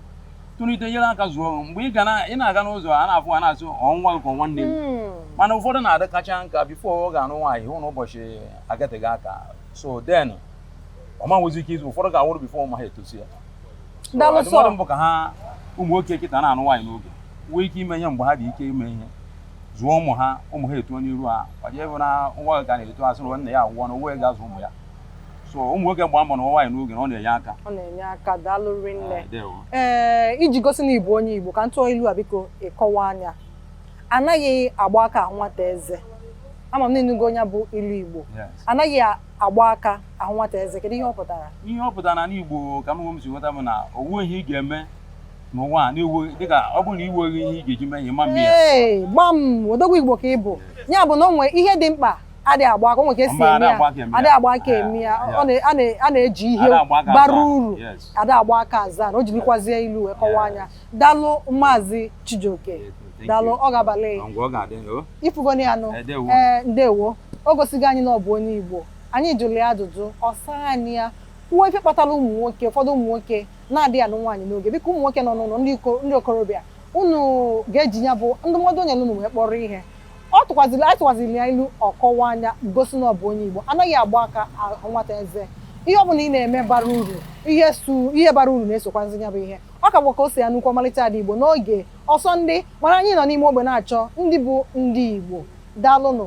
tolite nyere aka zụọ gị mgbe ị ga na- ị na-aga n'ụzọ a na-afụ ha na-asị ọ nwa gị ka ọ nwanne m Mm. mana ụfọdụ na-adị akacha nka before ọ ga-anụ nwaanyị hụ na ụbọchị agatịgo aka so then ọ ma nwezi ike ịzụ ụfọdụ ga-anwụrụ bifo ụmụ ha etosia ndụmọdụ m bụ ka ha ụmụ nwoke kịta na-anụ nwaanyị n'oge nwee ike ime ihe mgbe ha dị ike ime ihe zụọ ụmụ ha ụmụ ha etuo n'iru ha ọjọọ ebe na nwa ga na-eto a sị na nna ya anwụgo na onye ga-azụ ụmụ ya so ụmụ nwoke gbaa mbọ na-anụ nwaanyị n'oge na ọ na-enye aka ọ na-enye aka daalụ rinne ah, ee eh, iji gosi na ị bụ onye Igbo ka m tụọ ilu a biko ị kọwaa ya anaghị agba aka ahụ nwata eze ama m na ị nụgo ya bụ ilu Igbo anaghị agba aka ahụ nwata eze kedu ihe ọ pụtara ihe ọ pụtara na igbo ka m si ghọta m na o nwee ihe ị ga-eme n'ụwa na-ewu dịka ọ bụrụ na i nweghị ihe ị ga-eji mee ihe ma mme ya gbam odogwu igbo ka ị bụ ya bụ na o nwee ihe dị mkpa adị agba aka o nwee ka e si eme ya adị agba aka eme ya a na-eji ihe bara uru ada agba aka aza na o jirikwazie ilu wee kọwaa ya daalụ maazị Chijioke daalụ ọ ga-abalị ị fụgonụ ya nụ ee ndewo o gosigo anyị na ọ bụ onye Igbo anyị jụrụ ya ajụjụ ọ saa anyị ya kwuo ife kpatara ụmụ nwoke ụfọdụ ụmụ nwoke na-adịghị anụ nwaanyị n'oge biko ụmụ nwoke nọ n'ụlọ ndị okorobịa unu ga-eji ya bụ ndụmọdụ o nyere unu wee kpọrọ ihe ọ tụkwaziri anyị tụkwaziri ya ilu ọ kọwaa ya gosi na ọ bụ onye Igbo anaghị agba aka nwata eze ihe ọ bụla ị na-eme bara uru ihe su ihe bara uru na-esokwazi ya bụ ihe ọ ka bụ ka o si ya nnukwu ọmalịcha ada igbo n'oge ọsọ ndị mana anyị nọ n'ime ogbe na-achọ ndị bụ ndị igbo daalụnụ